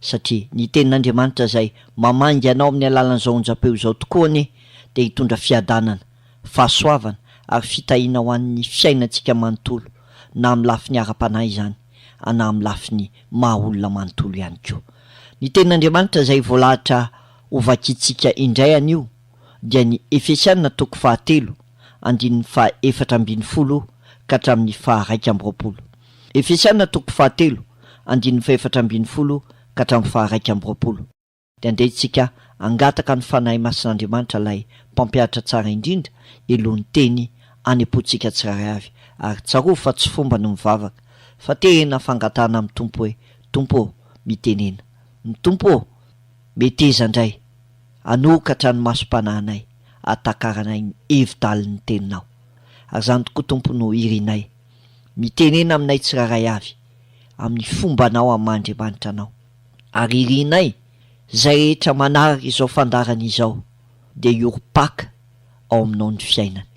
satria ny tenin'Andriamanitra izay mamangy anao amin'ny alalan'izao onjam-peo izao tokoa anie dia hitondra fiadanana, fahasoavana ary fitahiana ho an'ny fiainantsika manontolo na amin'ny lafiny ara-panahy izany na amin'ny lafiny maha olona manontolo ihany koa. Ny tenin'Andriamanitra izay voalahatra ho vakintsika indray anio dia ny Efesiana toko fahatelo andininy faha efatra ambin'ny folo ka hatramin'ny faha iraika amby roapolo. Efesiana toko fahatelo, andininy fahefatra ambin'ny folo ka hatramin'ny faharaika amby roapolo, dia andeha isika hangataka ny Fanahy Masin'Andriamanitra ilay Mpampianatra Tsara Indrindra Helohon'ny Teny any am-pontsika tsirairay avy, ary tsarovy fa tsy fomba ny mivavaka, fa tena fangatahana amin'ny Tompo hoe, Tompo ô, mitenena. Ny Tompo ô, meteza indray, hanokatra ny masom-panahinay, hahatakarana ny hevi-dalin'ny Teninao. Ary izany tokoa Tompo no irinay. Mitenena aminay tsirairay avy, amin'ny fombanao amin'ny maha Andriamanitra anao. Ary irinay, izay rehetra manaraka izao fandaharana izao, dia hiorim-paka ao aminao ny fiainany.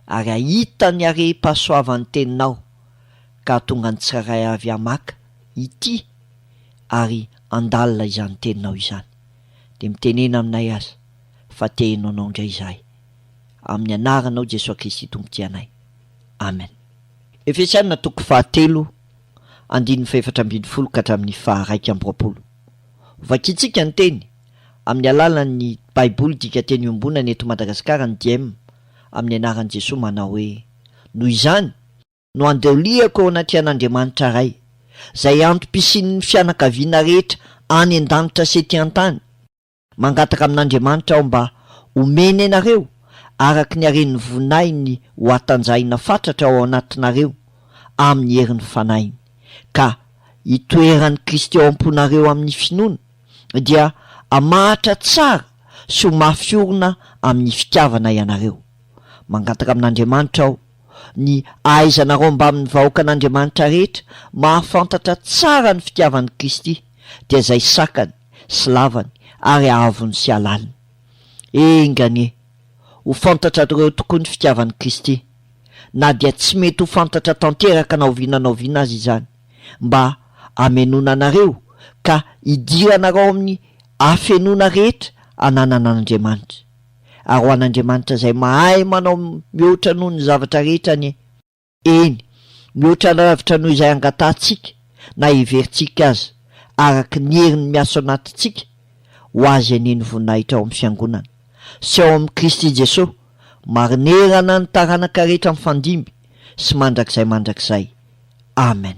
Ary hahita ny harem-pahasoavan'ny Teninao, ka hahatonga ny tsirairay avy hamaka, hitia, ary handalina izany Teninao izany. Dia mitenena aminay aza, fa te-heno Anao indray izahay. Amin'ny Anaranao Jesoa Kristy Tompotianay. Amen. Efesiana toko fahatelo andininy fahefatra ambin'ny folo ka hatramin'ny faharaika amby roapolo. Vakintsika ny teny amin'ny alalan'ny Baiboly Dika Teny Iombonana eto Madagasikara ny Diem amin'ny anaran'i Jesoa manao hoe, Noho izany, no andoliako ao anatrehan'Andriamanitra Ray, izay antom-pisian'ny fianakaviana rehetra any an-danitra sy ety an-tany, Mangataka amin'Andriamanitra aho mba homeny anareo araka ny haren'ny voninahiny ho hatanjahina fatratra ao anatinareo amin'ny herin'ny Fanahiny, ka hitoeran'i Kristy ao am-ponareo amin'ny finoana, dia hamahatra tsara sy ho mafy orina amin'ny fitiavana ianareo. Mangataka amin'Andriamanitra aho ny hahaizanareo mbamin'ny vahoakan'Andriamanitra rehetra mahafantatra tsara ny fitiavan'i Kristy, dia izay sakany, sy lavany ary ahavony sy alaliny. Enga anie, ho fantatrareo eo tokoa ny fitiavan'i Kristy, na dia tsy mety ho fantatra tanteraka na oviana na oviana aza izany, mba hamenoana anareo ka hidiranarao amin'ny hafenoana rehetra ananana an'Andriamanitra. Ary ho an'Andriamanitra izay mahay manao mihoatra noho ny zavatra rehetra anie, Eny, mihoatra lavitra noho izay angatahantsika na heverintsika aza, araka ny heriny miasa ao anatintsika, ho Azy anie ny voninahitra ao amin'ny Fiangonana, sy ao amin'i Kristy Jesosy, marinerana ny taranaka rehetra mifandimby sy mandrakizay mandrakizay. Amen.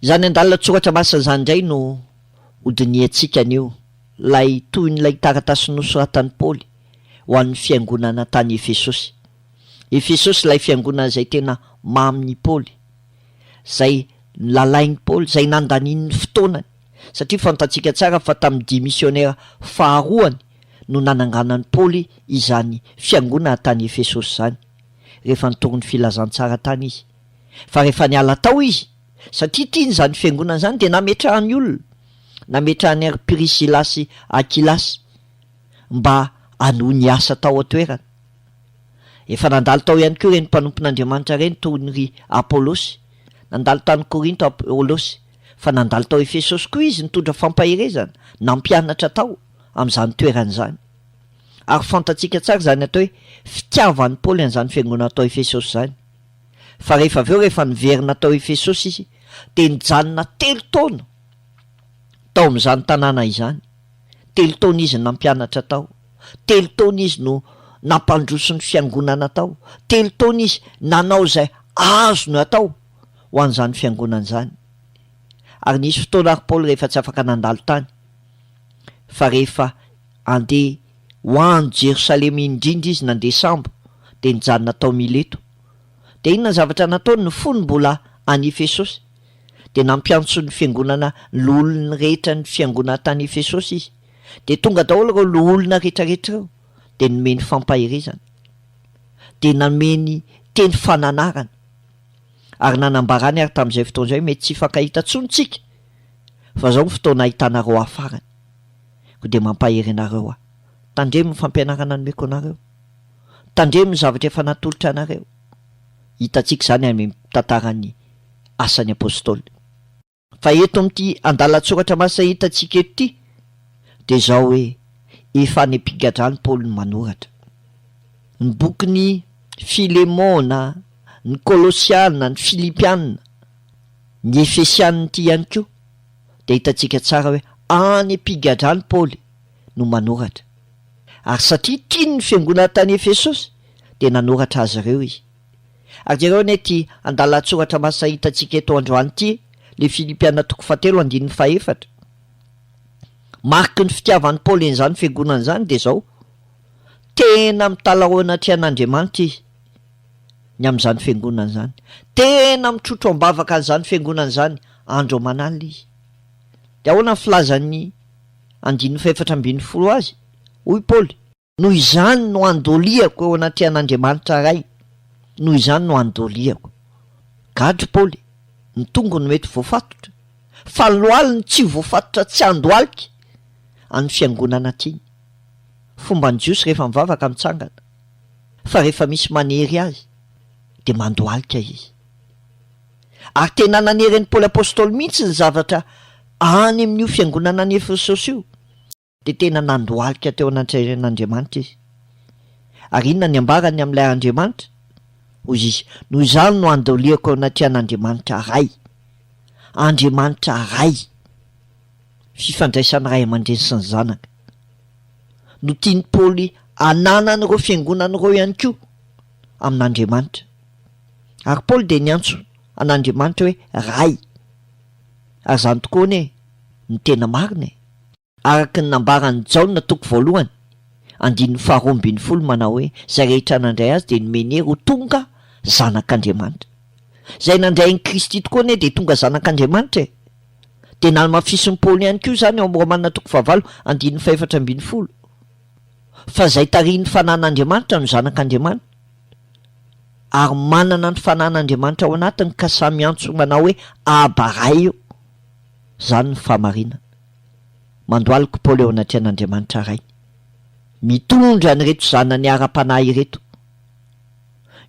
Izany andalan-tsoratra masina izany indray no hodinihantsika anio, ilay tohin'ilay taratasy nosoratan'i Paoly ho an'ny fiangonana tany Efesosy. Efesosy ilay fiangonana izay tena mamin'i Paoly. izay lalain'i Paoly, izay nandaniany fotoanany, satria fantatsika tsara fa tamin'ny dia misionera faharoany no nananganan'i Paoly izany fiangonana tany Efesosy izany, rehefa nitory ny filazantsara tany izy. Fa rehefa niala tao izy, satria tiany izany fiangonana izany, dia nametrahany olona, nametrahany an-ry Prisila sy Akila, mba hanohy ny asa tao an-toerana. Efa nandalo tao ihany koa ireny mpanompon'Andriamanitra ireny toy ry Apolosy. Nandalo tany Korinto Apolosy, fa nandalo tao Efesosy koa izy nitondra fampaherezana, nampianatra tao amin'izany toerana izany. Ary fantatsika tsara izany atao hoe fitiavan'i Paoly an'izany fiangonana tao Efesosy izany. Fa rehefa avy eo, rehefa niverina tao Efesosy izy, dia nijanona telo taona tao amin'izany tanàna izany. Telo taona izy no nampianatra tao. Telo taona izy no nampandroso ny Fiangonana tao. Telo taona izy nanao izay azony atao ho an'izany Fiangonana izany. Ary nisy fotoana ary Paoly rehefa tsy afaka nandalo tany, fa rehefa handeha ho any Jerosalema iny indrindra izy nandeha sambo, dia nijanona tao Mileto. Dia inona ny zavatra nataony? Ny fony mbola any Efesosy. dia nampiantso ny fiangonana loholony rehetra ny fiangonana tany Efesosy izy. Dia tonga daholo ireo loholona rehetrarehetra ireo, dia nomeny fampaherezana. Dia nameny teny fananarana. Ary nanambarany ary tamin'izay fotoana izay hoe mety tsy hifankahita intsony isika, fa izao ny fotoana ahitanareo ahy farany. Koa dia mampahery anareo aho. Tandremo ny fampianarana nomeko anareo. Tandremo ny zavatra efa natolotra anareo. hitantsika izany any amin'ny tantaran'ny Asan'ny Apôstôly. Fa eto amin'ity andalan-tsoratra masina hitantsika eto ity dia izao hoe, efa any am-pigadrany Paoly no manoratra. Ny bokin'i Filemôna, ny Kôlôsiana, ny Filipiana, ny Efesiana ity ihany koa dia hitantsika tsara hoe any am-pigadrany Paoly no manoratra. Ary satria tiany ny fiangonana tany Efesosy, dia nanoratra azy ireo izy. Ary jereo anie ity andalan-tsoratra masina hitantsika eto androany ity, le Filipiana toko fahatelo andininy fahefatra. Mariky ny fitiavan'i Paoly an'izany fiangonana izany dia izao, Tena mitalaho eo anatrehan'Andriamanitra izy, ny amin'izany fiangonana izany. Tena mitrotro am-bavaka an'izany fiangonana izany, andro aman'alina izy. Dia ahoana ny filazan'ny. andininy fahefatra ambin'ny folo azy, hoy Paoly. Noho izany no andoliako eo anatrehan' Andriamanitra Ray, noho izany no andoliako. Gadra Paoly, ny tongony mety voafatotra, fa loaly ny tsy voafatotra tsy handohalika an'ny fiangonana tiany. Fomban'ny Jiosy rehefa mivavaka mitsangana, fa rehefa misy manery azy, dia mandohalika izy. Ary tena nanery an'i Paoly Apostoly mihitsy ny zavatra any amin'io fiangonana any Efesosy io, dia tena nandohalika teo anatrehan'Andriamanitra izy. Ary inona ny ambarany amin'ilay Andriamanitra? Hoy izy, Noho izany no andoliako eo anatrehan'Andriamanitra Ray. Andriamanitra Ray. Fifandraisana ray aman-dreny sy ny zanaka. No tian'i Paoly hananan'ireo fiangonana ireo ihany koa amin'Andriamanitra. Ary Paoly dia niantso an'Andriamanitra hoe Ray. Ary izany tokoa anie no tena marina e! Araka ny nambaran'i Jaona toko voalohany, andininy faharoa ambin'ny folo manao hoe, Izay rehetra nandray Azy dia nomeny hery ho tonga zanak'Andriamanitra. Izay nandray an'i Kristy tokoa anie dia tonga zanak'Andriamanitra e! Dia nalamafisin'i Paoly ihany koa izany ao amin'ny Romana toko fahavalo andininy fahefatra ambin'ny folo, fa izay tarihin'ny fanan'Andriamanitra no zanak'Andriamanitra. ary manana ny fanan'Andriamanitra ao anatiny ka samy miantso manao hoe Aba Ray io, izany ny fahamarinana. Mandohalika i Paoly eo anatrehan'Andriamanitra Rainy. Mitondra an'ireto zanany ara-panahy ireto,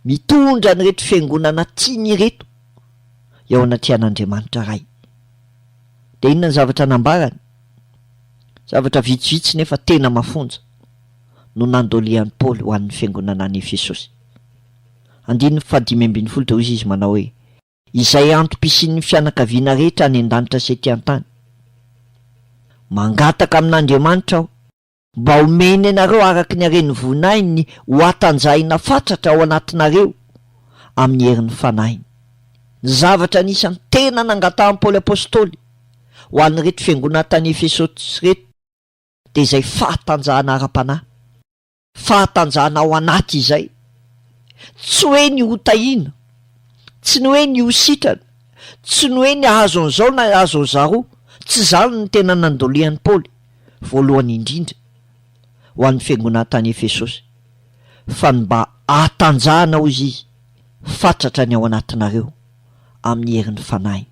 mitondra an'ireto fiangonana tiany ireto eo anatrehan'Andriamanitra Ray. Dia inona ny zavatra nambarany? Zavatra vitsivitsy nefa tena mafonja. no nandolian'i Paoly ho an'ny fiangonana any Efesosy. Andininy fahadimy ambin'ny folo dia hoy izy manao hoe, Izay antom-pisian'ny fianakaviana rehetra any an-danitra sy ety an-tany. Mangataka amin'Andriamanitra aho. Mba homeny anareo araka ny haren'ny voninahiny ho hatanjahina fatratra ao anatinareo amin'ny herin'ny Fanahiny. Ny zavatra anisan'ny tena nangatahan'i Paoly Apostoly ho an'ireto fiangonana tany Efesosy ireto, dia izay fahatanjahana ara-panahy, fahatanjahana ao anaty izay, tsy hoe ny ho tahiana, tsy ny hoe ny ho sitrana, tsy ny hoe ny hahazo an'izao na hahazo an'izaroa, tsy izany no tena nandolian'i Paoly, voalohany indrindra, ho an'ny fiangonana tany Efesosy, fa ny mba hahatanjahana, hoy izy, fatratra ny ao anatinareo amin'ny herin'ny fanahiny.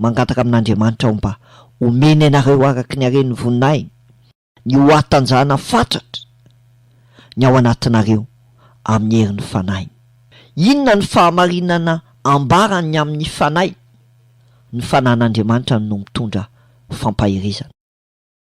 Mangataka amin'Andriamanitra aho mba homeny anareo araka ny haren'ny voninahiny ny ho hatanjahana fatratra ny ao anatinareo amin'ny herin'ny Fanahiny. Inona no fahamarinana ambaran'ny amin'ny Fanahy? Ny Fanahin'Andriamanitra no mitondra fampaherezana.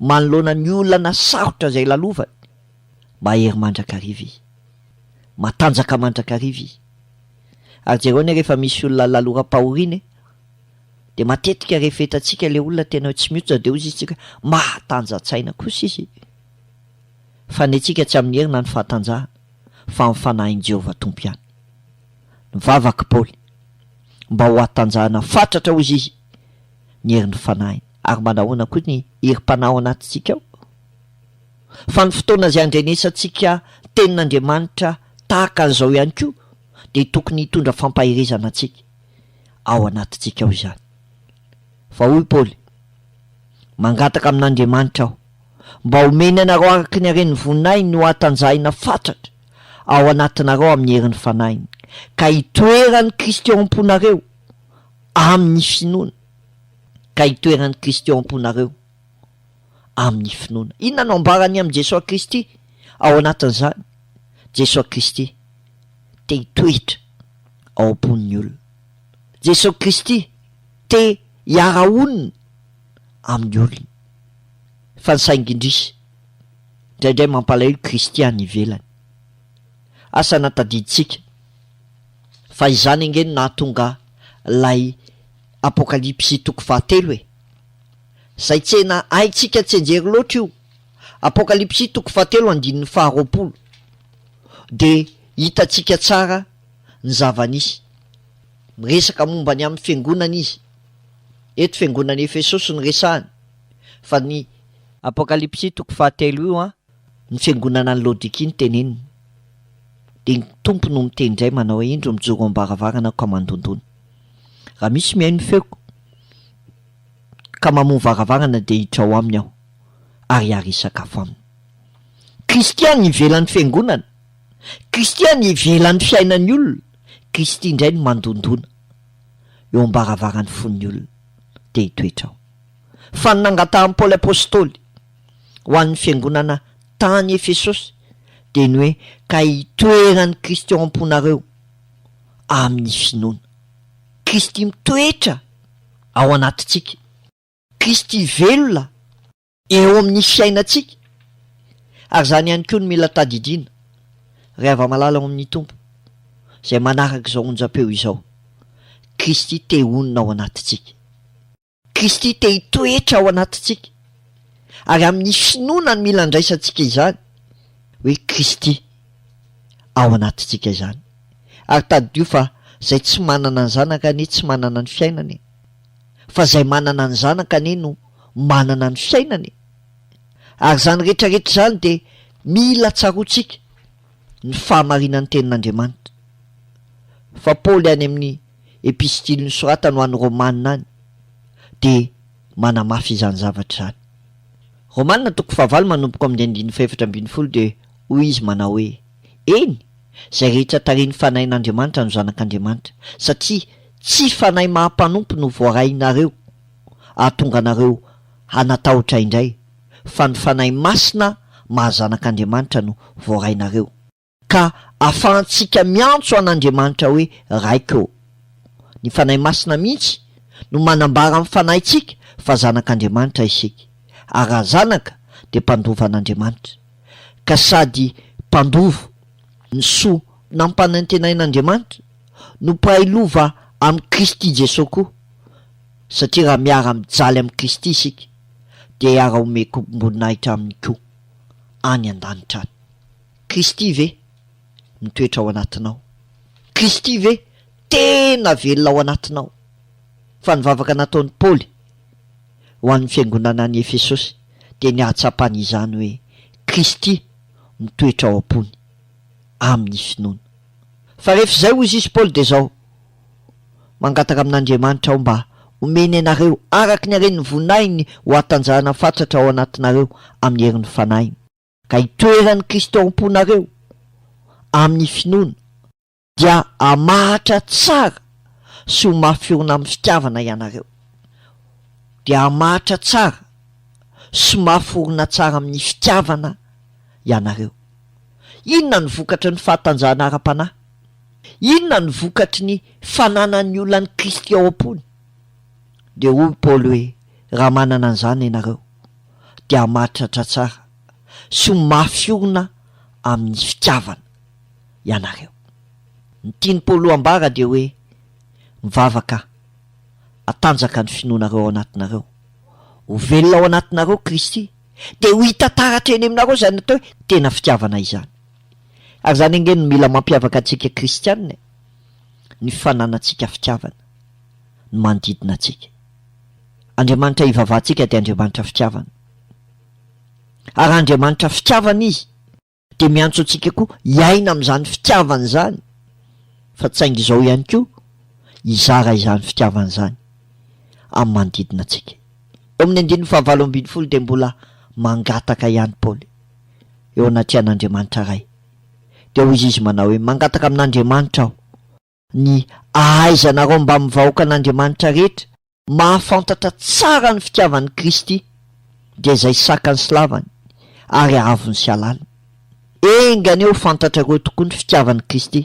manoloana ny olana sarotra izay lalovany. Mahery mandrakariva i. Matanjaka mandrakariva i. Ary jereo anie rehefa misy olona laloram-pahoriana e, dia matetika rehefa hitantsika ilay olona tena hoe tsy mihoatra dia hozy isika mahatanja-tsaina kosa izy. Fa ny antsika tsy amin'ny hery na ny fahatanjahana fa amin'ny fanahin'i Jehovah Tompo ihany. Nivavak'i Paoly mba ho hatanjahana fatratra hozy izy. ny herin'ny fanahiny. Ary mba nahoana koa ny herim-panahy ao anatintsika ao? Fa ny fotoana izay andrenesantsika ny Tenin'Andriamanitra tahaka an'izao ihany koa dia tokony hitondra fampaherezana antsika ao anatintsika ao izany. Fa hoy Paoly, Mangataka amin'Andriamanitra aho, mba homeny anareo araka ny haren'ny voninahiny ho hatanjahina fatratra ao anatinareo amin'ny herin'ny fanahiny, ka hitoeran'i Kristy ao am-ponareo, amin'ny finoana, ka itoeran'i Kristy ao am-ponareo amin'ny finoana. Inona no ambarany amin'i Jesoa Kristy ao anatin'izany? Jesoa Kristy te hitoetra ao am-pon'ny olona. Jesoa Kristy te hiara-honina amin'ny olona. Fa ny saingy indrisy, indraindray mampalahelo Kristy any ivelany. Asa na tadidintsika Fa izany ange no nahatonga ilay Apokalypsy toko fahatelo e! Izay tsena haintsika tsianjery loatra io, Apokalypsy toko fahatelo andininy faharoapolo, dia hitantsika tsara ny zava-nisy. Miresaka momba ny amin'ny fiangonana izy. Eto fiangonan'i Efesosy no resahany, fa ny. Apokalypsy toko fahatelo io an, Ny fiangonana ny lodiki ny teneniny. Dia ny Tompo no miteny indray manao indro mijoro eo am-baravarana ka mandondona. Raha misy mihaino ny feoko ka mamoha varavarana dia hiditra ao aminy aho ary hary hisakafo aminy. Kristia ny ivelan'ny fiangonana, Kristia ny ivelan'ny fiainan'ny olona, Kristy indray no mandondona eo am-baravaran'ny fon'ny olona. Dia hitoetra ao. Fa ny nangatahan'i Paoly Apostoly. ho an'ny fiangonana tany Efesosy dia ny hoe ka hitoeran'i Kristy ao am-ponareo amin'ny finoana. Kristy mitoetra ao anatintsika. Kristy velona eo amin'ny fiainantsika. Ary izany ihany koa no mila tadidiana, ry hava-malala ao amin'ny Tompo, izay manaraka izao onjam-peo izao, Kristy te honina ao anatintsika. Kristy te hitoetra ao anatintsika, ary amin'ny finoana no mila andraisantsika izany hoe Kristy ao anatintsika izany. Ary tadidio fa izay tsy manana ny Zanaka anie tsy manana ny fiainana e! Fa izay manana ny Zanaka anie no manana ny fiainana e! Ary izany rehetrarehetra izany dia mila tsaroantsika ny fahamarinan'ny Tenin'Andriamanitra. Fa Paoly any amin'ny epistily nosoratany ho any Romana any dia manamafy izany zavatra izany. Romana toko fahavalo manomboka ao amin'ny andininy fahefatra ambin'ny folo dia hoy izy manao hoe, Eny, izay rehetra tarihin'ny Fanahin'Andriamanitra no zanak'Andriamanitra, satria tsy fanahy maha-mpanompo no voarahinareo hahatonga anareo hanatahotra indray, fa ny Fanahy Masina maha-zanak'Andriamanitra no voarahinareo. ka afahantsika miantso an'Andriamanitra hoe Raiko. Ny Fanahy Masina mihitsy no manambara amin'ny fanahintsika fa zanak'Andriamanitra isika, ary raha zanaka dia mpandova an'Andriamanitra, ka sady mpandova ny soa nampanantenain'Andriamanitra no mpahay lova amin'i Kristy Jesoa koa, satria raha miara-mijaly amin'i Kristy isika dia hiara-homeko-mboninahitra Aminy koa any an-danitra any. Kristy ve mitoetra ao anatinao? Kristy ve tena velona ao anatinao? Fa ny vavaka nataon'i Paoly ho an'ny fiangonana any Efesosy dia ny hahatsapany izany hoe Kristy mitoetra ao am-pony amin'ny finoana. Fa rehefa izay, hoy izy Paoly, dia izao, Mangataka amin'Andriamanitra aho mba homeny anareo araka ny haren'ny voninahiny ho hatanjahana fatratra ao anatinareo amin'ny herin'ny fanahiny. ka hitoeran'i Kristy ao am-ponareo amin'ny finoana, dia hamahatra tsara sy ho mafy orina amin'ny fitiavana ianareo, dia hamahatra tsara sy mafy orina tsara amin'ny fitiavana ianareo. Inona no vokatry ny fahatanjahana ara-panahy? Inona no vokatry ny fananan'ny olan'i Kristy ao am-pony? Dia hoy Paoly hoe, Raha manana an'izany ianareo, dia mahatratra tsara sy ho mafy orina amin'ny fitiavana ianareo. Ny tian'i Paoly ho ambara dia hoe, Mivavaka hatanjaka ny finoanareo ao anatinareo. Ho velona ao anatinareo Kristy, dia ho hita taratra eny aminareo izany atao hoe tena fitiavana izany. Ary izany ange no mila mampiavaka antsika kristiana e, ny fananantsika fitiavana. ny manodidina antsika. Andriamanitra ivavahantsika dia Andriamanitra fitiavana. Ary raha Andriamanitra fitiavana Izy, dia miantso antsika koa hiaina amin'izany fitiavana izany, fa tsy saingy izao ihany koa, hizara izany fitiavana izany amin'ny manodidina antsika. Eo amin'ny andininy fahavalo ambin'ny folo dia mbola mangataka ihany Paoly, eo anatrehan'Andriamanitra Ray. Dia hoy izy manao hoe, Mangataka amin'Andriamanitra aho, Ny ahaizanareo mbamin'ny vahoakan'Andriamanitra rehetra mahafantatra tsara ny fitiavan'i Kristy dia izay sakany sy lavany ary haavony sy halaliny. Enga anie ho fantatrareo tokoa ny fitiavan'i Kristy,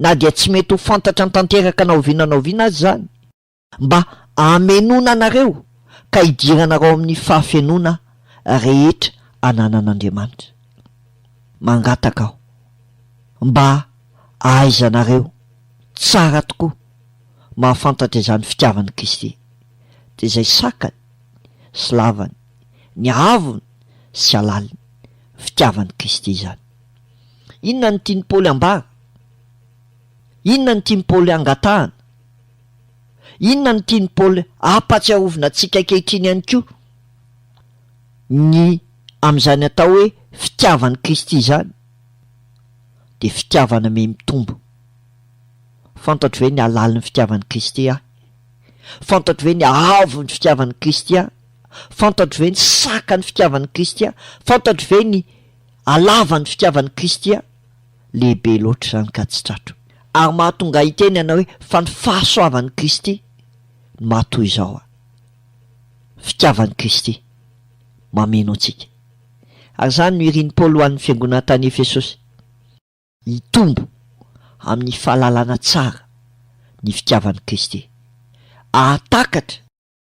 na dia tsy mety ho fantatra tanteraka na oviana na oviana aza izany, Mba hamenoana anareo ka hidiranarao amin'ny fahafenoana rehetra ananan'Andriamanitra. Mangataka aho mba ahaizanareo tsara tokoa mahafantatra izany fitiavan'i Kristy, dia izay sakany sy lavany, ny haavony sy halaliny, fitiavan'i Kristy izany. Inona no tian'i Paoly ambara? Inona no tian'i Paoly angatahana? Inona no tian'i Paoly hampahatsiarovina antsika ankehitriny ihany koa? Ny amin'izany atao hoe fitiavan'i Kristy izany dia fitiavana mihamitombo. Fantatro ve ny halalin'ny fitiavan'i Kristy aho? Fantatro ve ny haavon'ny fitiavan'i Kristy aho? Fantatro ve ny sakan'ny fitiavan'i Kristy aho? Fantatro ve ny halavan'ny fitiavan'i Kristy aho? Lehibe loatra izany ka tsy tratro. Ary mahatonga ahy hiteny ianao hoe, Fa ny fahasoavan'i Kristy no mahatoy izao aho. Fitiavan'i Kristy mameno antsika. Ary izany no irin'i Paoly ho an'ny fiangonana tany Efesosy, Hitombo amin'ny fahalalana tsara ny fitiavan'i Kristy. Hahatakatra.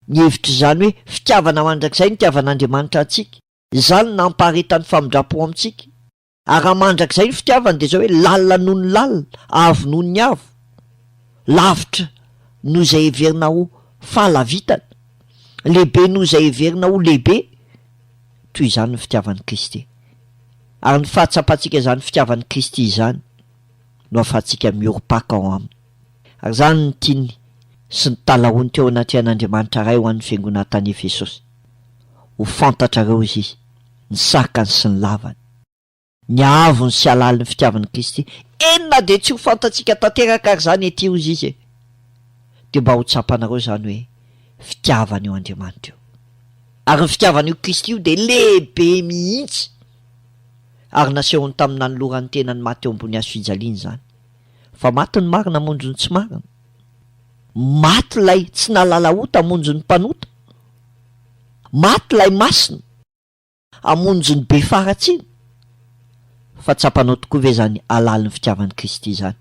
Ny hevitr'izany hoe fitiavana mandrakizay nitiavan'Andriamanitra antsika, izany no nampaharetan'ny famindram-po amintsika. Ary raha mandrakizay ny fitiavana dia izao hoe lalina noho ny lalina, avo noho ny avo, lavitra noho izay heverina ho fahalavitana, lehibe noho izay heverina ho lehibe, toy izany ny fitiavan'i Kristy. Ary ny fahatsapantsika izany fitiavan'i Kristy izany no ahafahantsika miorim-paka ao Aminy. Ary izany no tiany sy ny talahoany teo anatrehan'Andriamanitra Ray ho an'ny Fiangonana tany Efesosy. ho fantatrareo izy, ny sarikany sy ny lavany, ny haavony sy halalin'ny fitiavan'i Kristy, eny na dia tsy ho fantatsika tanteraka ary izany ety ozy izy e! dia mba ho tsapanareo izany hoe fitiavana io Andriamanitra io. Ary ny fitiavana io Kristy io dia lehibe mihitsy, ary nasehony tamin'ny nanolorany ny tenany maty eo ambony hazofijaliana izany, fa maty ny marina hamonjy ny tsy marina. Maty ilay tsy nahalala ota hamonjy ny mpanota. Maty ilay masina hamonjy ny be faharatsiana. Fa tsapanao tokoa ve izany halalin'ny fitiavan'i Kristy izany?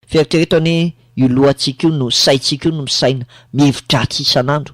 Fieritrereto anie io lohantsika io no saintsika io no misaina, mihevitra Atsy isan'andro.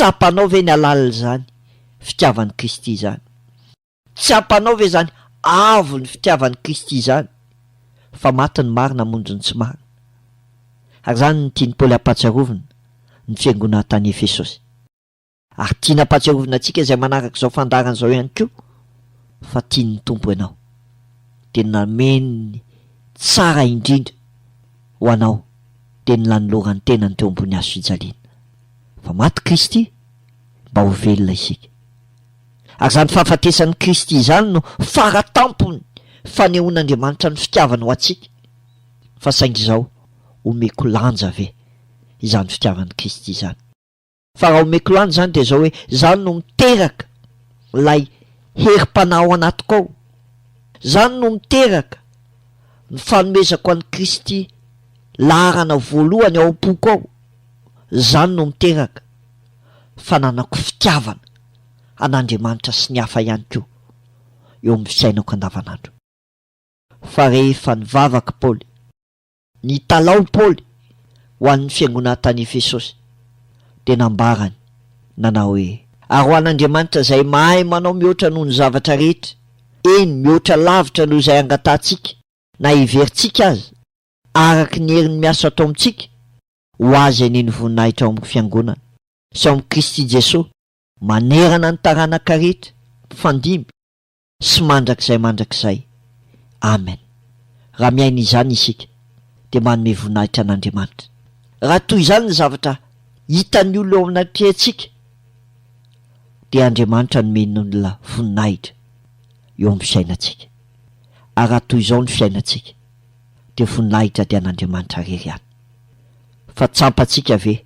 Tsapanao ve ny halalin'izany fitiavan'i Kristy izany? Tsapanao ve izany avo ny fitiavan'i Kristy izany fa maty ny marina hamonjy ny tsy marina? Ary izany no tian'i Paoly hampatsiarovina ny fiangonana tany Efesosy. Ary tiany hampatsiarovina antsika izay manaraka izao fandaharana izao ihany koa fa tian'ny Tompo ianao, dia ny nameny ny tsara indrindra ho anao dia ny nanolorany tenany teo ambony hazofijaliana. fa maty Kristy mba ho velona isika. Ary izany fahafatesan'i Kristy izany no fara tampon'ny fanehoan'Andriamanitra ny fitiavany ho antsika. Fa saingy izao, omeko lanja ve izany fitiavan'i Kristy izany? Fa raha omeko lanja izany dia izao hoe, izany no miteraka ilay herim-panahy ao anatiko ao. Izany no miteraka ny fanomezako an'i Kristy laharana voalohany ao am-poko ao. Izany no miteraka fananako fitiavana an'Andriamanitra sy ny hafa ihany koa eo amin'ny fiainako andavanandro. Fa rehefa nivavaka Paoly, nitalaho Paoly ho an'ny fiangonana tany Efesosy, dia nambarany nanao hoe, Ary ho an'Andriamanitra izay mahay manao mihoatra noho ny zavatra rehetra, eny, mihoatra lavitra noho izay angatahantsika na heverintsika aza, araka ny herin'ny miasa atao amintsika ho azy anie ny voninahitra ao amin'ny Fiangonana sy ao amin'i Kristy Jesoa manerana ny taranaka rehetra mpifandimby sy mandrakizay mandrakizay. Amen. Raha miaina izany isika dia manome voninahitra an'Andriamanitra. Raha toy izany ny zavatra hitan'ny olona ao anatrehantsika dia Andriamanitra nomeny olona voninahitra eo amin'ny fiainantsika. Ary raha toy izao ny fiainantsika. dia voninahitra dia an'Andriamanitra rery ihany. Fa tsampantsika ve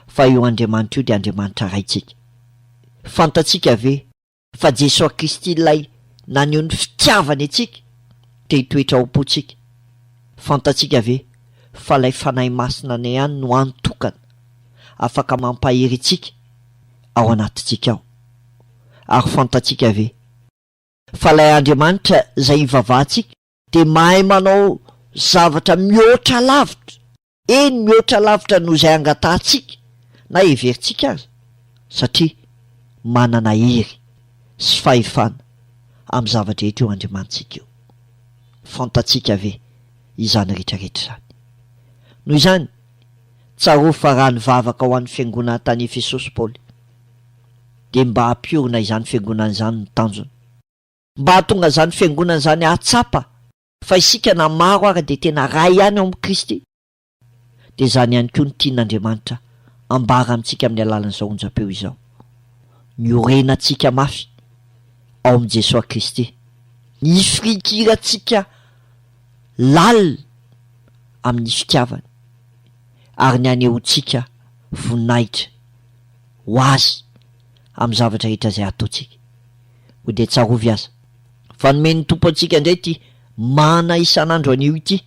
fa io Andriamanitra io dia Andriamanitra Raintsika? Fantatsika ve fa Jesoa Kristy Ilay naneho ny fitiavany antsika te hitoetra ao am-pontsika? Fantatsika ve fa Ilay Fanahy Masina na ihany no hany tokana afaka mampahery antsika ao anatintsika ao? Ary fantatsika ve fa Ilay Andriamanitra izay ivavahantsika dia mahay manao zavatra mihoatra lavitra, eny mihoatra lavitra noho izay angatahantsika na heverintsika aza, satria manana hery sy fahefana amin'ny zava-drehetra io Andriamanitsika io. Fantatsika ve izany rehetra rehetra izany? Noho izany, tsarovy fa raha nivavaka ho an'ny fiangonana tany Efesosy Paoly, dia mba hampiorina izany fiangonana izany ny tanjony. Mba hahatonga izany fiangonana izany hahatsapa fa isika na maro ary dia tena iray ihany ao amin'i Kristy, dia izany ihany koa no tian'Andriamanitra hambara amintsika amin'ny alalan'izao onjam-peo izao. Ny orenantsika mafy ao amin'i Jesoa Kristy, ny ifirinkirantsika lalina amin'ny fitiavany, ary ny hanehoantsika voninahitra ho Azy amin'ny zavatra rehetra izay ataontsika. Koa dia tsarovy aza, fa nomen'ny Tompo antsika indray ity mana isan'andro anio ity,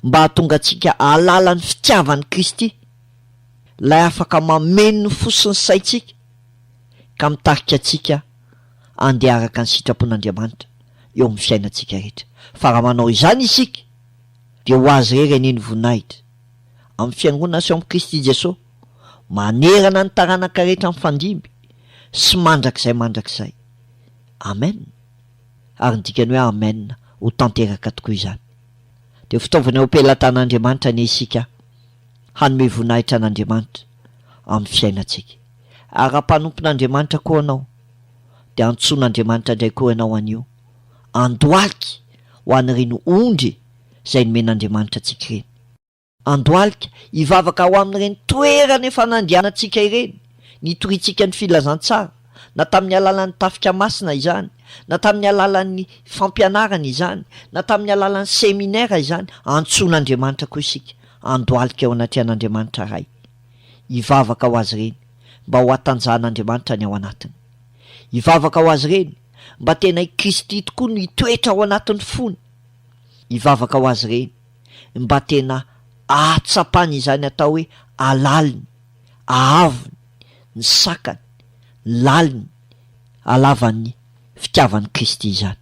mba hahatonga antsika hahalala ny fitiavan'i Kristy, Ilay afaka mameno ny fo sy ny saintsika, ka mitarika antsika handeha araka ny sitrapon'Andriamanitra eo amin'ny fiainantsika rehetra. Fa raha manao izany isika, dia ho Azy irery anie ny voninahitra, amin'ny Fiangonana sy ao amin'i Kristy Jesoa. manerana ny taranaka rehetra mifandimby sy mandrakizay mandrakizay. Amen. Ary ny dikan'ny hoe Amen, ho tanteraka tokoa izany. Dia fitaovana eo am-pelatan'Andriamanitra anie isika hanome voninahitra an'Andriamanitra amin'ny fiainantsika. Ary raha mpanompon'Andriamanitra koa ianao, dia antsoin'Andriamanitra indray koa ianao anio, andohalika ho an'ireny ondry izay nomen'Andriamanitra antsika ireny. Andohalika, hivavaka ho amin'ireny toerana efa nandehanantsika ireny, nitoriantsika ny filazantsara, na tamin'ny alalan'ny tafika masina izany, na tamin'ny alalan'ny fampianarana izany, na tamin'ny alalan'ny seminera izany, antsoin'Andriamanitra koa isika, andohalika eo anatrehan'Andriamanitra Ray. Hivavaka ho azy ireny, mba ho hatanjahan'Andriamanitra ny ao anatiny. Hivavaka ho azy ireny, mba tena i Kristy tokoa no hitoetra ao anatin'ny fony. Hivavaka ho azy ireny. mba tena ahatsapany izany atao hoe alaliny, ahavony, ny sakany, laliny, alavan'ny fitiavan'i Kristy izany.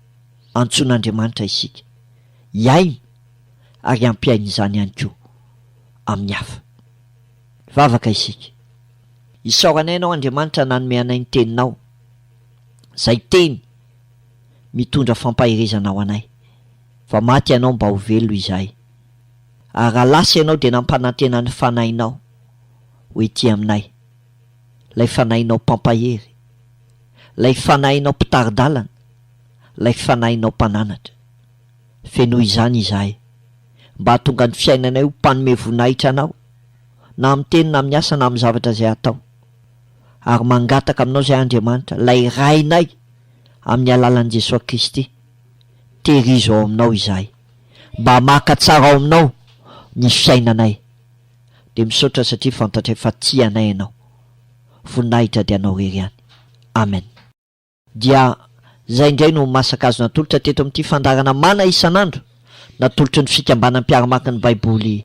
Antsoin'Andriamanitra isika hihaino ary hampihaino izany ihany koa amin'ny hafa. Hivavaka isika. Isaoranay Ianao Andriamanitra nanome anay ny Teninao, izay Teny mitondra fampaherezana ho anay. Vao maty ianao mba ho velona izahay. Ary raha lasa ianao dia nampanantena ny Fanahinao ho etỳ aminay, ilay Fanahinao Mpampahery, ilay Fanahinao Mpitari-dalana, ilay Fanahinao Mpananatra. Fenoy izany izahay, mba hahatonga ny fiainanay ho mpanome voninahitra Anao, na amin'ny teny na amin'ny asa na amin'ny zavatra izay atao. Ary mangataka aminao izay, Andriamanitra, ilay Rainay, amin'ny alalan'i Jesoa Kristy. Tehirizo ao Aminao izahay. Mba maka tsara ao Aminao ny fiainanay. Dia misaotra satria fantatray fa tia anay Ianao. Voninahitra dia Anao irery ihany. Amen. Dia izay indray no masaka azo natolotra teto amin'ity fandaharana Mana isan'andro natolotry ny Fikambanam-piaramakiny Baiboly.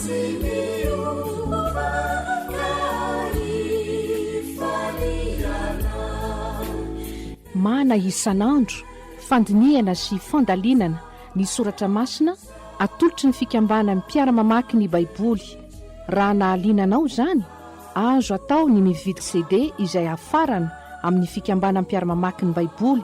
Mana isan'andro fandinihana sy fandalinana ny soratra masina atolotry ny fikambanan'ny mpiara-mamaky ny Baiboly. Raha nahaliana anao izany, azo atao ny mividy CD izay hafarana amin'ny fikambanam-piara-mamaky ny Baiboly